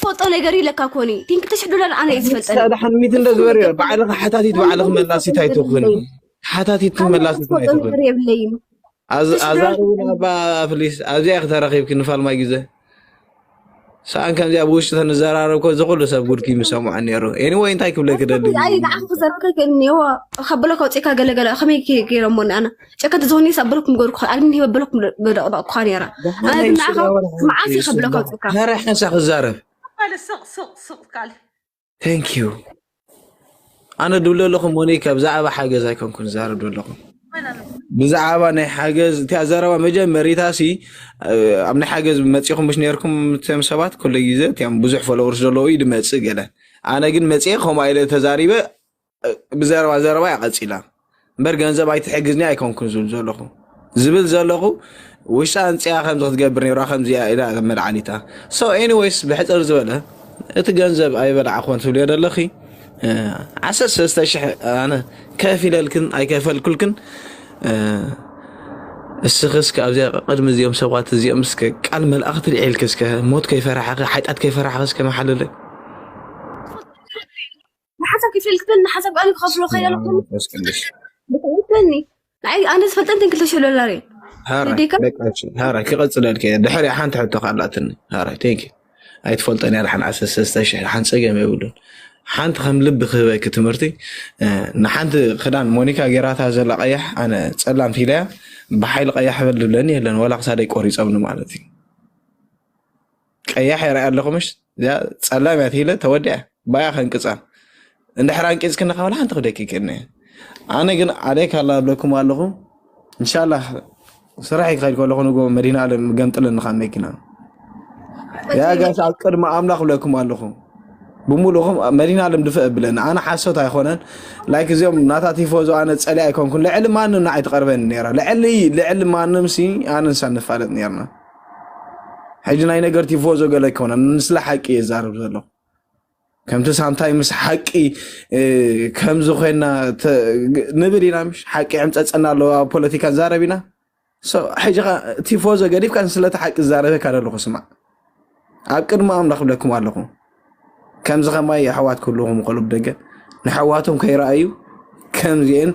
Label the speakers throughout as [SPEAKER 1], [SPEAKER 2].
[SPEAKER 1] ፎጦ ነገር ኢለካ ኮኒ ግን ክልተ ሽሕ ዶላር ኣነ እዩ ዝፈልጠኒ ክሳብ ድሓን ሚት እንደ ዝበርዮ
[SPEAKER 2] ባዕልኺ ሓታቲት ባዕልኺ መላሲት ኣይትኹን ሓታቲት መላሲት ኣይትኹን የብለይም ኣዛርቡን ኣባ ፍሊስ ኣብዚኣ ክተረኺብኪ ንፋልማይ ግዘ ሰኣን ከምዚኣ ብውሽጢ ተንዘራረብ ኮ ዝኩሉ ሰብ ጉድኪ ምሰምዖ ነይሩ ኤኒወይ እንታይ ክብለ ክደሊ ንዓኹ ክዘረብ
[SPEAKER 1] ከይክእል እኒዎ ከብሎ ከውፅእካ ገለገለ ከመይ ገይረሞ ኣነ ጨከት ዞኒ ሰብርኩም ገርኩ ኣልሚ ሂበብልኩም ደቕደቕኳ ነይራ ኣነ ግን ንዓኻ መዓስ እዩ ከብለካ ውፅእካ ተራ ሓንሳ ክዛረብ
[SPEAKER 2] ካለ ስቕ ስቕ
[SPEAKER 3] ስቕ ካለ ታንክ ዩ
[SPEAKER 2] ኣነ ድብሎ ኣለኹ ሞኒካ ብዛዕባ ሓገዝ ኣይኮንኩን ዛረብ ዶ ኣለኹ መን ኣሎ ብዛዕባ ናይ ሓገዝ እታ ዘረባ መጀመሪታ ሲ እ፣ ኣብ ናይ ሓገዝ መፂኹም ምስ ነርኩም እቶም ሰባት ኩሉ ግዜ እቲም ብዙሕ ፎሎወርስ ዘለዎ እዩ ድመፅእ ገለ ኣነ ግን መፅኤ ከምኡ ኢለ ተዛሪበ ብዘረባ ዘረባ እያ ቀፂላ እምበር ገንዘብ ኣይትሕግዝኒ ኣይኮንኩን ዝብል ዘለኹ ዝብል ዘለኹ ውሽጣ እንፅያ ከምዚ ክትገብር ነራ ከምዚያ ኢላ መድዓኒታ ሶ ኤኒዌይስ ብሕፅር ዝበለ እቲ ገንዘብ ኣይበላዕኮን ትብልዮ ዘለኺ ዓሰርተ ሰለስተ ሽሕ ኣነ ከፍ ኢለልክን ኣይከፈልኩልክን እስኺ እስከ ኣብዚኣ ቅድሚ እዚኦም ሰባት እዚኦም እስከ ቃል መልኣኽ ትልዒልክ እስከ ሞት ከይፈራሕኺ ሓጢኣት ከይፈራሕኺ እስከ መሓልለይ
[SPEAKER 1] ንሓሳብ ክፈልክበኒ ሓሳብ ኣነ ክኸፍሎ ከይለለኹ ብትዕልክበኒ ንዓይ ኣነ ዝፈልጠንተን ክልተ ሽሕ ዶላር እዩ
[SPEAKER 2] ሃራይ ክቐፅለልከ ድሕሪ ሓንቲ ሕቶ ካላትኒ ሃራይ ቴንክ ኣይትፈልጠን እያ ዳሓን ዓሰርተ ሰለስተ ሽሕ ሓን ፀገም የብሉን ሓንቲ ከም ልቢ ክህበኪ ትምህርቲ ንሓንቲ ክዳን ሞኒካ ጌራታ ዘላ ቀያሕ ኣነ ፀላም ፊለያ ብሓይሊ ቀያሕ በል ዝብለኒ የለን ዋላ ክሳደይ ቆሪፆምኒ ማለት እዩ ቀያሕ የርኣያ ኣለኹ ምሽ እዚኣ ፀላም እያ ትሂለ ተወዲያ ባያ ከንቅፃ እንድሕር ኣንቂፅክኒ ካብ ሓንቲ ክደቂቅኒ እየ ኣነ ግን ዓሌ ካላ ኣብለኩም ኣለኹ እንሻላ ስራሕ ይክኸድ ከለኹ ንጎ መዲና ኣለም ገምጥለኒ ካብ መኪና ያ ጋሽ ኣብ ቅድሚ ኣምላኽ ብለኩም ኣለኹ ብምሉእኹም መዲና ኣለም ድፍእ ብለኒ ኣነ ሓሶት ኣይኮነን ላይክ እዚኦም ናታ ቲፎዞ ኣነ ፀሊ ኣይኮንኩን ልዕሊ ማንም ንዓይ ትቐርበኒ ነራ ልዕሊ ልዕሊ ማንም ሲ ኣነ ንሳ ንፋለጥ ነርና ሕጂ ናይ ነገር ቲፎዞ ገለ ኣይኮነን፣ ንስለ ሓቂ እየ ዛረብ ዘሎ ከምቲ ሳንታይ ምስ ሓቂ ከምዚ ኮይና ንብል ኢና ምሽ ሓቂ ዕምፀፀና ኣሎ ኣብ ፖለቲካ ዛረብ ኢና ሕጂ ቲፎዞ ገዲፍካ ንስለቲ ሓቂ ዛረበካ ዘለኹ ስማዕ ኣብ ቅድሚ ኣምላኽ ብለኩም ኣለኹ ከምዚ ከማይ የሕዋት ክህልውኹም ይኽእሉ ብ ደገ ነሕዋቶም ከይረኣዩ ከምዚኤን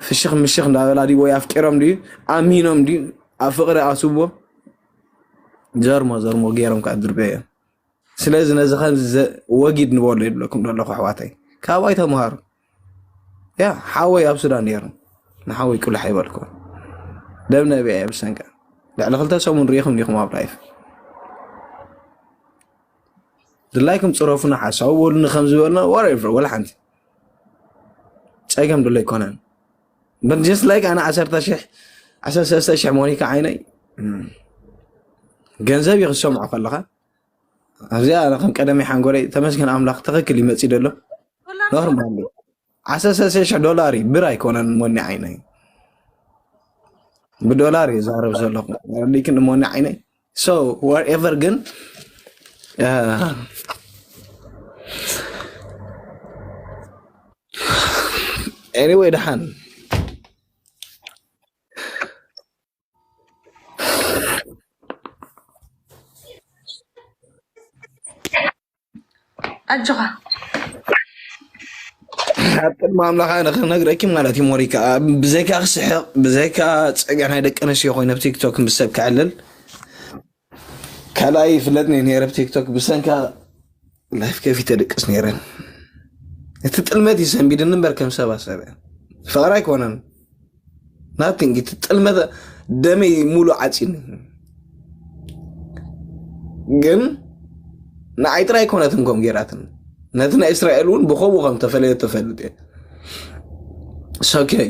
[SPEAKER 2] ፍሽኽ ምሽኽ እንዳበላ ድዩ ወይ ኣፍቂሮም ድዩ ኣሚኖም ድዩ ኣብ ፍቅሪ ኣስቦ ዘርሞ ዘርሞ ገይሮም ከዓ ድርበ እዮም ስለዚ ነዚ ከምዚ ወጊድ ንበሎ ይብለኩም ዘለኹ ኣሕዋተይ ካባይ ተምሃሩ ያ ሓወይ ኣብ ሱዳን ነይሩ ንሓወይ ቅሉሕ ኣይበልኩ ደም ነቢዐ ብሰንቀ ልዕሊ ክልተ ሰሙን ርኢኹም ዲኹም ኣብ ላይፍ ድላይኩም ፅረፉና ሓሳዊ በሉኒ ከም ዝበልና ወሬቨር ወላ ሓንቲ ፀገም ድሎ ኣይኮነን በት ጀስት ላይክ ኣነ ዓሰርተ ሽሕ ዓሰርተ ሰለስተ ሽሕ ሞኒካ ዓይነይ ገንዘብ እዩ ክሰምዖ ከለካ ኣብዚኣ ኣነ ከም ቀደመይ ሓንጎለይ ተመስገን ኣምላኽ ትኽክል እዩ መፂኡ ደሎ ኖርማል እዩ ዓሰርተ ሰለስተ ሽሕ ዶላር እዩ ብር ኣይኮነን ሞኒ ዓይነይ ብዶላር እዩ ዛረብ ዘለኹ ሊክን ሞኒ ዓይነይ ሶ ወርኤቨር ግን አ፣ ኤኒዌይ ደሓን
[SPEAKER 3] ኣጆኻ
[SPEAKER 2] ኣብ ቅድሚ ኣምላኽ ኣነ ክነግረኪ ማለት እዩ ሞሪካ ብዘይካ ክስሕቕ ብዘይካ ፀገ ናይ ደቂ ኣንስትዮ ኮይኑ ኣብ ቲክቶክ ምስ ሰብ ክዕልል ካልኣይ ይፍለጥኒ ነይረ ብ ቲክቶክ ብሰንካ ላይፍ ከፊተ ደቅስ ነይረ እቲ ጥልመት እዩ ሰንቢድኒ እምበር ከም ሰባ ሰበ ፍቅሪ ኣይኮነን ናቲንግ እቲ ጥልመት ደመይ ሙሉ ዓፂኒ ግን ንዓይ ጥራይ ኮነትን ከም ጌራትን ነቲ ናይ እስራኤል እውን ብከምኡ ከም ተፈለየ ተፈልጥ እየ ሰከይ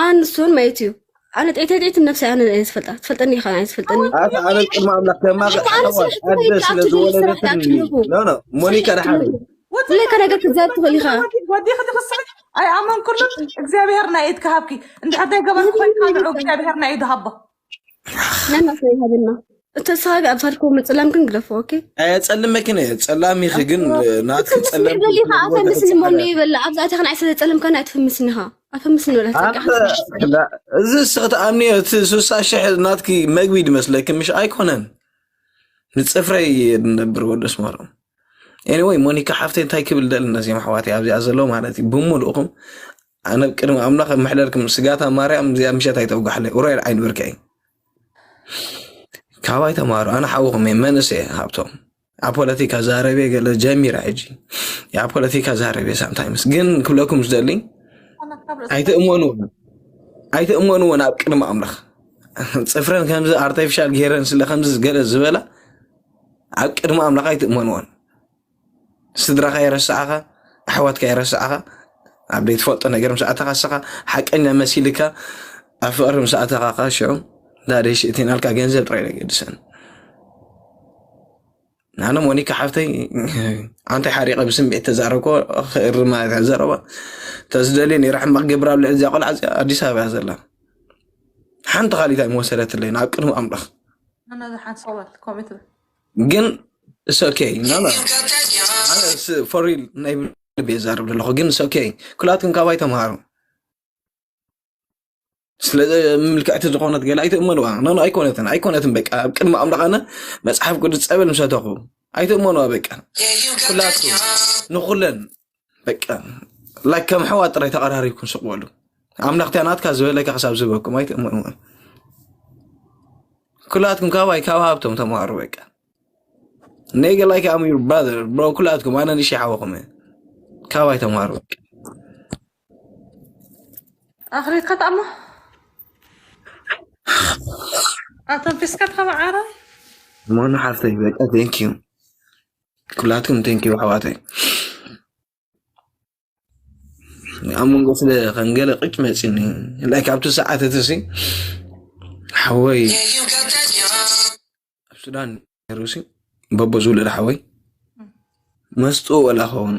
[SPEAKER 1] ኣን ንሱን መይት እዩ ኣነ ጤቴጤት ነብሰይ ኣነ እየ ዝፈልጣ ትፈልጠኒ ኢኻ ኣነ ዝፈልጠኒ ኣታ ኣበይ ቅድሚ ኣምላኽ
[SPEAKER 2] ከማኸ ኣሕዋት ኣደ ስለ ዝወለደትን ኖኖ
[SPEAKER 1] ሞኒካ
[SPEAKER 2] ደሓን
[SPEAKER 1] ለካ ነገር ክትዛብ
[SPEAKER 2] ትኽእል
[SPEAKER 1] ኢኻ
[SPEAKER 2] ወዲኺ
[SPEAKER 1] ትኽስዕ
[SPEAKER 3] ኣይኣመንኩሉን እግዚኣብሄር ናይ ኢድ ክሃብኪ እንድሕር ዘይገበርኩ ኮይንካ ንዑ እግዚኣብሄር ናይ ኢዱ ሃቦ
[SPEAKER 1] ነና ሰው ይሃብና እተሳቢ ኣብ ሳድኮ ምፅላም ግን ግደፎ ኦኬ ጸልም መኪነ
[SPEAKER 2] ጸላም ይኺ ግን ናትኪ ጸለም ትፍምስኒ በሊኻ ኣፈምስኒ
[SPEAKER 1] ሞኒ ይበላ ኣብዛ እታ ክንዓይ ስለ ጸለምካ ናይ ትፍምስኒ ኢኻ ኣፈምስኒ በላ
[SPEAKER 2] እዚ ስኽ ተኣምኒዮ እቲ ስሳ ሽሕ ናትኪ መግቢ ድመስለኪ ምሽ ኣይኮነን ንጽፍረይ ንነብር ወደስ ማሎም ኤኒወይ ሞኒካ ሓፍተይ እንታይ ክብል ደሊ ነዚኦም ኣሕዋተይ ኣብዚኣ ዘሎ ማለት እዩ ብምልእኹም ኣነ ኣብ ቅድሚ ኣምላኽ እምሕለልኩም ስጋታ ማርያም እዚኣ ምሸት ኣይተውጋሕለይ ኡራኤል ዓይኒ ብርኪ እይ ካባይ ተማሃሩ ኣነ ሓውኹም እየ መንእሰ ሃብቶም ኣብ ፖለቲካ ዛረቤ ገለ ጀሚረ ሕጂ ኣብ ፖለቲካ ዛረቤ ሳምታይምስ ግን ክብለኩም ዝደሊ ኣይትእመንዎን ኣይትእመንዎን ኣብ ቅድሚ ኣምላኽ ፅፍረን ከምዚ ኣርቲፊሻል ገይረን ስለ ከምዚ ገለ ዝበላ ኣብ ቅድሚ ኣምላኽ ኣይትእመንዎን ስድራኻ የረስዓኻ ኣሕዋትካ የረስዓኻ ኣብ ዘይትፈልጦ ነገር ምስ ኣተኻ ሰኻ ሓቀኛ መሲልካ ኣብ ፍቕሪ ምስ ኣተኻ ካ ሽዑ ዳደይ ሽእቲናልካ ገንዘብ ጥራይ ነገድሰን ኣነ ሞኒካ ሓፍተይ ኣንታይ ሓሪቀ ብስምዒት ተዛረብኮ ክእሪ ማለት እያ ዘረባ ተዝደልየ ነራ ሕማቅ ገብራ ኣብ ልዕሊ እዚኣ ቆልዓ እዚኣ ኣዲስ ኣበባ እያ ዘላ ሓንቲ ካሊት ኣይመወሰደትለይን ኣብ ቅድሚ ኣምላኽ ግን ኦኬ ፎሪል ናይ ልብ የዛርብ ዘለኹ ግን ኦኬ ኩላትኩም ካባይ ተምሃሩ ስለ ምልክዕቲ ዝኾነት ገለ ኣይትእመኑዋ ኖ ኣይኮነትን ኣይኮነትን በቃ ኣብ ቅድሚ ኣምላኽ ኣነ መፅሓፍ ቅዱስ ፀበል ምሰተኹ ኣይትእመኑዋ በቃ ኩላትኩም ንኩለን በቃ ላይክ ከም ሕዋ ጥራይ ተቐራሪብኩም ስቕ በሉ ኣምላኽ እቲያ ናትካ ዝበለካ ክሳብ ዝበኩም ኣይትእመኑ ኩላትኩም ካባይ ካብ ሃብቶም ተምሃሩ በቃ ኔገ ላይክ ኣም ዩር ብራዘር ብሮ ኩላትኩም ኣነ ንሽ ሓወኹም እየ ካባይ ተምሃሩ በቃ
[SPEAKER 3] ኣኽሪትካ ተኣሞ ኣተንፊስካ ተኸበ ዓረ እሞኑ
[SPEAKER 2] ሓፍተይ በቃ ቴንኪዩ ኩላትኩም ቴንኪው ኣሕዋተይ ኣብ መንጎ ስለ ከም ገለ ቅጭ መፂኒ ላይ ካብቲ ሰዓት እቲ ሲ ሓወይ ኣብ ሱዳን ነሩሲ በቦ ዝውለድ ሓወይ መስጡ ወላ ኸውን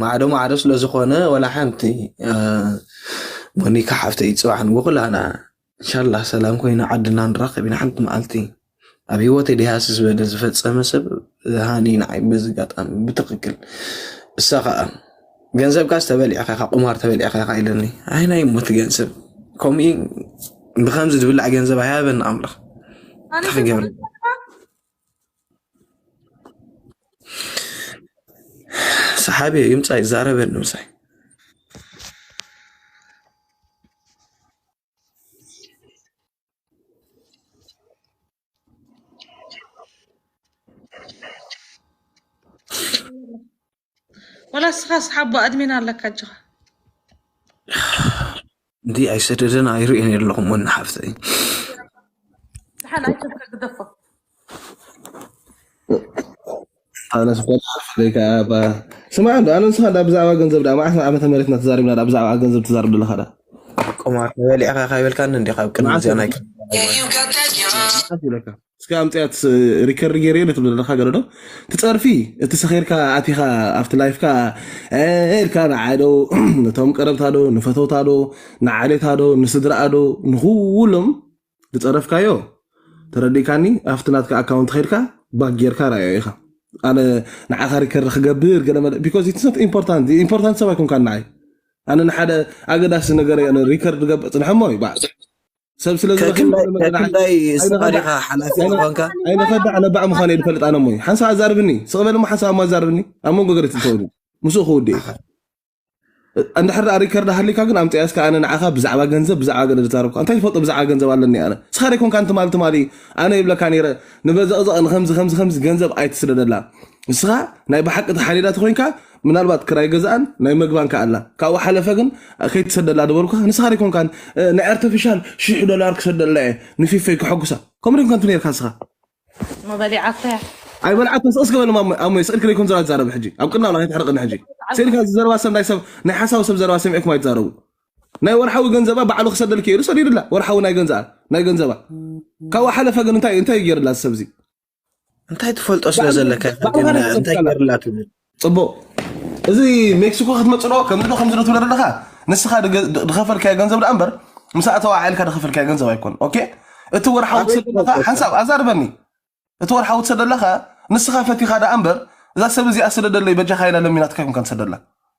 [SPEAKER 3] ማዕዶ
[SPEAKER 2] ማዕዶ ስለ ዝኾነ ወላ ሓንቲ ሞኒካ ሓፍተይ ፅባሕ ንጉ ኩላና እንሻላ ሰላም ኮይና ዓድና ንራኸብ ኢና ሓንቲ መዓልቲ ኣብ ህይወተይ ደሃሲ ዝበለ ዝፈፀመ ሰብ ሃኒ ንዓይ በዚ ኣጋጣሚ ብትኽክል እሳ ከዓ ገንዘብካስ ተበሊዕካ ኢኻ ቁማር ተበሊዕካ ኢኻ ኢለኒ ኣይ ናይ ሞት ገንዘብ ከምኡ ብከምዚ ዝብላዕ ገንዘብ ኣይሃበኒ ኣምላኽ እንታይ ክገብር ሰሓቢ እዩ ይምፃ ይዛረበኒ ምሳይ
[SPEAKER 3] ወላ እስኻ ስሓቦ ኣድሚን ኣለካ ኣጆኻ
[SPEAKER 2] እንዲ ኣይሰደደን ኣይርእን የለኹም ወኒ ሓፍተይ ዝሓል
[SPEAKER 3] ኣይተብከ ግደፎ
[SPEAKER 4] ኣነ ስፈልይ ከዓ ስማዕ እንዶ ኣነ ንስኻ ዳ ብዛዕባ ገንዘብ ዳ መዓስ ዓመተ መሬትና ተዛሪብና ዳ ብዛዕባ ገንዘብ ተዛርብ ዘለኻ ዳ ቆማር
[SPEAKER 2] ተበሊዕካ ካይበልካኒ እንዲ ካብ ቅድሚ እዚኣ ናይ ኢለካ
[SPEAKER 4] እስከ ኣምፅኣ ሪከርድ ገይረዮ ነቲ ዘለካ ገለዶ ትፀርፊ እቲ ሰኺርካ ኣቲኻ ኣብቲ ላይፍካ ኤልካ ንዓዶ ነቶም ቀረብታዶ ንፈተውታዶ ንዓሌታዶ ንስድራኣዶ ንኩሎም ዝፀረፍካዮ ተረዲእካኒ ኣብቲ ናትካ ኣካውንት ኸድካ ባክ ጌርካ ራዮ ኢኻ ኣነ ንዓኻ ሪከርድ ክገብር ገለ መለ ቢኮዝ ኢትስ ኖት ኢምፖርታንት ኢምፖርታንት ሰብ ኣይኮንካ ንዓይ ኣነ ንሓደ ኣገዳሲ ነገር ሪከርድ ገብር ፅንሐሞ እዩ ሰብ ስለ ዝረኸብኩ ከክንዳይ ንመገዲ ዓዲ ከክንዳይ
[SPEAKER 2] ስኻ ኣይንኸዳዕ ዲኻ ሓላፊ ኣይነ ዝኾንካ ኣይንኸዳዕ ለባዕ
[SPEAKER 4] ምዃነ እየ ዝፈልጥ ኣነ እሞ ሓንሳብ ኣዛርብኒ ስቕ በል እሞ ሓንሳብ እሞ ኣዛርብኒ ኣብ መንጎ ገለ ትእተወሉ ምስኡ ክውድእ እዩ ኣኸ እንድሕር ደኣ ሪከርድ ሃሊካ ግን ኣምፅኣ እስከ ኣነ ንዓኻ ብዛዕባ ገንዘብ ብዛዕባ ገለ ዝዛረብካ እንታይ ዝፈልጦ ብዛዕባ ገንዘብ ኣለኒ ኣነ ንስኻ ደይ ኮንካ ትማሊ ትማሊ ኣነ ይብለካ ነይረ ንበዘቕዘቕ ንከምዚ ከምዚ ከምዚ ገንዘብ ኣይትስደደላ ንስኻ ናይ ብሓቂ ተሓሊላ ተኮይንካ ምናልባት ክራይ ገዛኣን ናይ መግባን ከ ኣላ ካብኡ ሓለፈ ግን ከይትሰደላ ድበልኩካ ንስኻ ደይኮንካን ናይ ኣርተፊሻል ሽሕ ዶላር ክሰደላ እየ ንፊፈይ ክሐጉሳ ከምኡ ደይኮንካን ነርካ ንስኻ እሞ
[SPEAKER 3] በሊዓቶ እያ ኣይበልዓትን ስቕስ
[SPEAKER 4] ገበለ ማሞ ኣሞይ ስቕልክ ደይኮን ዘላ ትዛረብ ሕጂ ኣብ ቅድና ላ ከይትሕርቕኒ ሕጂ ስኢልካ ዝዘረባ ሰብ ናይ ሰብ ናይ ሓሳዊ ሰብ ዘረባ ሰሚዕኩም ኣይትዛረቡ ናይ ወርሓዊ ገንዘባ ባዕሉ ክሰደልክ ኢሉ ሰዲድላ ወርሓዊ ናይ ገንዘኣ ናይ ገንዘባ ካብኡ ሓለፈ ግን እንታይ እንታይ ገይርላ ሰብዚ እንታይ
[SPEAKER 2] ትፈልጦ ስለ ዘለካ ኢኻ ግን ብኣምሃራ እንታይ ተሰብከላ ገርላ ትብል ፅቡቅ
[SPEAKER 4] እዚ ሜክሲኮ ክትመፅእ ዶ ከምዚ ዶ ከምዚ ዶ ትብለ ዘለካ ንስኻ ድገ- ድ- ድኸፈልካዮ ገንዘብ ደኣ እምበር ምስ ኣተዋ ዓይልካ ድኸፈልካዮ ገንዘብ ኣይኮን ኦኬ እቲ ወርሓዊ ኣበይ ትሰደለካ ትፈልጦ እኮ ሓንሳብ ኣዛርበኒ እቲ ወርሓዊ ትሰደለካ ንስኻ ፈቲኻ ደኣ እምበር እዛ ሰብ እዚኣ ስደደለይ በጃኻ ኢላ ለሚናትካ ይምካ ትሰደላ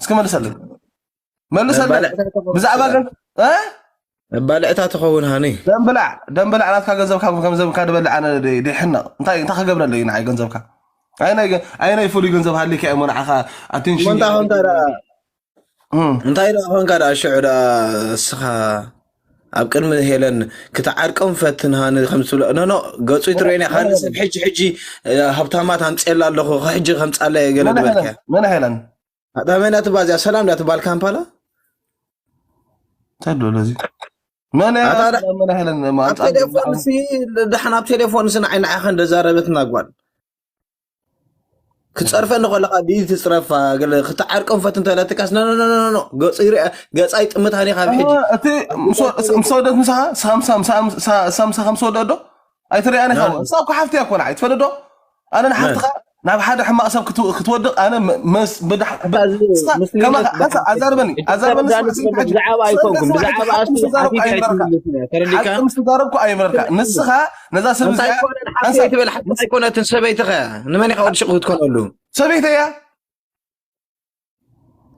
[SPEAKER 4] እስኪ መልሰለይ መልሰለይ ብዛዕባ ግን
[SPEAKER 2] ባልዕታ ትኸውን ሃኒ ደምብላዕ ደምብላዕ
[SPEAKER 4] ናትካ ገንዘብ ካብ ገንዘብካ ድበልዕ ኣነ ድሕነቕ እንታይ እንታይ ክገብረለይ ንዓይ ገንዘብካ ኣይናይ ፍሉይ ገንዘብ ሃሊካ እሞ ንዓኻ ኣቴንሽን
[SPEAKER 2] እንታይ ደኣ ኮንካ ደኣ ሽዑ ደኣ እስኻ ኣብ ቅድሚ ሄለን ክትዓርቀም ፈትን ሃኒ ከም ትብሎ ኖኖ ገጹ ይትረየን እያ ካልእ ሰብ ሕጂ ሕጂ ሃብታማት ኣምፅኤላ ኣለኹ ሕጂ ከምፃላ እየ ገለ ዝበልከ መን ሄለን
[SPEAKER 4] ኣዳመና
[SPEAKER 2] ትባ እዚኣ ሰላም እዳ ትባል ካምፓላ
[SPEAKER 4] እንታይ ኣሎ እዚ መን እያ ኣታ- ሰላም መን ሄለን ኣብ ኣምፃ ቴሌፎን ሲ
[SPEAKER 2] ድሓን ኣብ ቴሌፎን ሲ ንዓይ ንዓኻ እንደዛረበትና ጓል ክፀርፈኒ ከለካ ብኢድ ትፅረፋ ገለ ክትዓርቀን ፈት እንተለትካስ ኖኖኖኖ ገፁ ይርአ ገፃ ይጥምታን እዩ ካብ ሕጂ እቲ
[SPEAKER 4] ምስ ወደት ምሳኻ ሳምሳ ምሳኻ ምስ ወደት ዶ ኣይትሪኣን ኢኻ እሳ እኮ ሓፍቲ እያ እኮ ንዓይ ትፈዶ ዶ ኣነ ንሓፍትኻ ናብ ሓደ ሕማቕ ሰብ ክት- ክትወድቕ ኣነ ም- ምስ ብድሕ ብ- እስኻ ከማኻ ሓንሳእ ኣዛርበኒ ኣዛርበኒ ስማዕ ስሚ ሕጂ ብዛዕባ ስሚ ኣይኮንኩም ስማዕ ሕጂ
[SPEAKER 2] ብዛዕባ ሓቂ ምስ እሱ ተዛረብኩ ሓቲትካ ኣይምረርካ ኣይትምልስን እያ ተረዲካ
[SPEAKER 4] ሓቂ ምስ ተዛረብኩ ኣይምረርካ ንስኻ ነዛ ሰብ እንታይ እዚኣ ኮነ ሓፍተይ ሓንሳብ ትብል
[SPEAKER 2] ሓፍቲ ምስ ኣይኮነትን ሰበይቲ ከ ንመን ኢኻ ወዲ ሽቕ ክትኮነሉ ሰበይቲ
[SPEAKER 4] እያ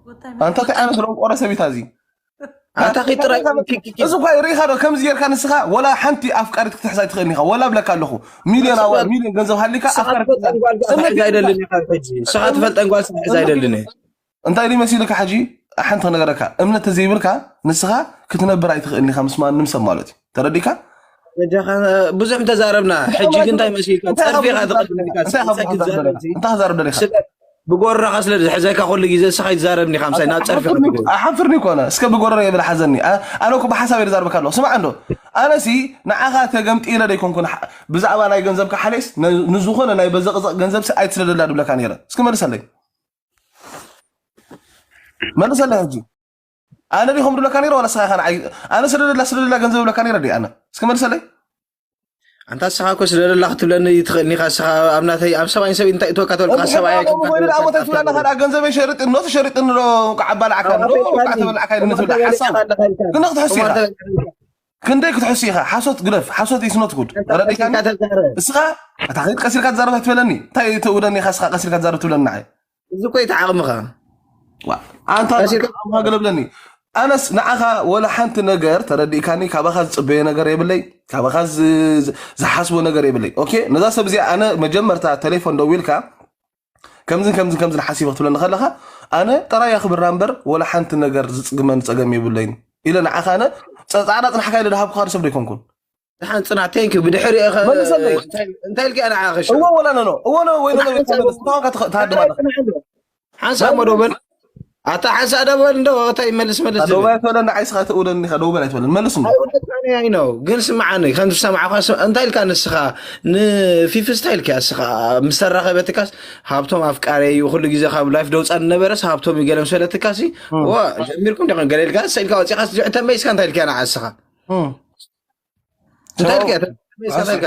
[SPEAKER 4] ወታይ መን ኣንታ እንታይ ዓይነት ደንቆሮ ሰብ እዩ ታዚ ኣታ ኺድ
[SPEAKER 2] ጥራይ ኪኪኪ እዚ እኳ ርኢኻ
[SPEAKER 4] ዶ ከምዚ ጌርካ ንስኻ ወላ ሓንቲ ኣፍቃሪት ክትሕዝ ኣይትኽእልን ኢኻ ወላ ብለካ ኣለኹ ሚልዮን ኣዋ ንስኻ- ሚልዮን ገንዘብ ሃሊካ ንስኻ ኣፍቃሪት ክትሕዝ ትፈልጠን ጓል ስምዒት ዘይብልካ
[SPEAKER 2] ትፈልጠን ጓል ስምዒት ዘይብልካ ንስኻ ትፈልጠን ጓል ስምዒት ዘይደልን እየ እንታይ ድዩ
[SPEAKER 4] መሲልካ ሕጂ ሓንቲ ነገረካ እምነት ተዘይብልካ ንስኻ ክትነብር ኣይትኽእልን ኢኻ ምስ ማንም ሰብ ማለት እዩ ተረዲካ በጃኻ
[SPEAKER 2] ብዙሕ እንተዛረብና ሕጂ ግን እንታይ መሲልካ እንታይ ፀርፊ ኢኻ ካብ ትቐድም ኢልካ እንታይ ካብ ስለ ክትዛረብ ክትዛረብ
[SPEAKER 4] ደለኻ? እንታይ ክትዛረብ ደለኻ? ስለ ብጎረኻ
[SPEAKER 2] ስለ ዝሕዘካ ኩሉ ግዜ ንስኻ ኣይትዛረብን ኢኻ ምሳይ ናብ ፀርፊ ኢኻ ትገቡ ኣሓፍርኒ ኮነ
[SPEAKER 4] እስከ ብጎረረ የብል ሓዘኒ ኣ- ኣነ እኮ ብሓሳብ እየ ዛርበካ ኣለኹ ስማዕ እንዶ ኣነሲ ንዓኻ ተገምጢለ ደይኮንኩን ሓ- ብዛዕባ ናይ ገንዘብካ ሓለስ ን- ንዝኾነ ናይ በዘቕዘቕ ገንዘብሲ ኣይትስደደላ ድብለካ ነይረ እስኪ መልሰለይ መልሰለይ ሕጂ ኣነ ዲኹም ድብለካ ነይረ ዋላ ስኻ ኻን ኣነ ስደደላ ስደደላ ገንዘብ ብለካ ነይረ ዲ ኣነ እስኪ መልሰለይ ኣንታ
[SPEAKER 2] ስኻ እኮ ስደደላ ክትብለኒ ትኽእልኒ ኻ ስኻ ኣብ ናተይ ኣብ ሰብኣይን ሰብ እንታይ እትወካ ተልካ ሰብኣይ ኮይኑ ደኣ ሞተይ ትብላና ካልኣ
[SPEAKER 4] ገንዘበይ ሸርጥ ኖ ትሸርጥ ንዶ ቃዕ ኣባላዕካ ኖ ቃዕ ተበላዕካ ኢለ ትብላ ሓሳብ ግን ክትሕስ ኢኻ ክንደይ ክትሕሱ ኢኻ ሓሶት ግደፍ ሓሶት ኢስ ኖት ጉድ ኣንታ ተረዲእካኒ ቀሲልካ ተዛረብ እስኻ እታ ከይት ቀሲልካ ትዛረብ ኣይትበለኒ እንታይ እዩ ተውደኒ ኢኻ እስኻ ቀሲልካ ትዛረብ ትብለኒ ንዓይ እዚ እኮ እዩ እቲ ዓቕምኻ
[SPEAKER 2] ዋ፣
[SPEAKER 4] ኣንታ ቀሲልካ ዓቕምካ ገለ ብለኒ ኣነስ ንዓኻ ወላ ሓንቲ ነገር ተረዲእካኒ ካባኻ ዝፅበዮ ነገር የብለይ ካባኻ ዝ- ዝ- ዝሓስቦ ነገር የብለይ ኦኬ ነዛ ሰብ እዚኣ ኣነ መጀመርታ ቴሌፎን ደዊልካ ከምዝን ከምዝን ከምዝን ሓሲበ ክትብለኒ ከለካ ኣነ ጥራይ ኣክብራ እምበር ወላ ሓንቲ ነገር ዝፅግመኒ ፀገም የብለይን ኢለ ንዓኻ ኣነ ፃዕዳ ፅናሕካ ኢለ ድሃብኩካ ንሰብ ዘይኮንኩን ድሓን ፅናሕ
[SPEAKER 2] ቴንክ ብድሕሪ መልሰለይ እንታይ ልካ ንዓኸ እዎ ወላ ነኖ እዎ
[SPEAKER 4] ወይ ነኖ ተሃድማ
[SPEAKER 2] ሓንሳብ መዶ በል ኣታ ሓንሳእ ደው በል እንዶ እታይ መልስ መልስ ደው በል ኣይትበለኒ ዓይ
[SPEAKER 4] ስኻ ትእውለኒ ኢኻ ደው በል ኣይትበለኒ መልስ እንዶ ኣይ
[SPEAKER 2] ነው ግን ስምዓኒ ከም ዝሰማዕኳ እንታይ ኢልካ ንስኻ ንፊፊ ስታይ ኢልካ ንስኻ ምስ ተራኸበትካስ ሃብቶም ኣፍቃሪ እዩ ኩሉ ግዜ ካብ ላይፍ ደውፃ ዝነበረስ ሃብቶም እዩ ገለ ምስ በለትካሲ ዋ ጀሚርኩም ዲኹም ገለ ኢልካ ሰ ኢልካ ወፂኻስ ዝዕ ተመይስካ እንታይ ኢልካ ንዓ ንስኻ እንታይ ኢልካ ተመይስካ እንታይ ኢልካ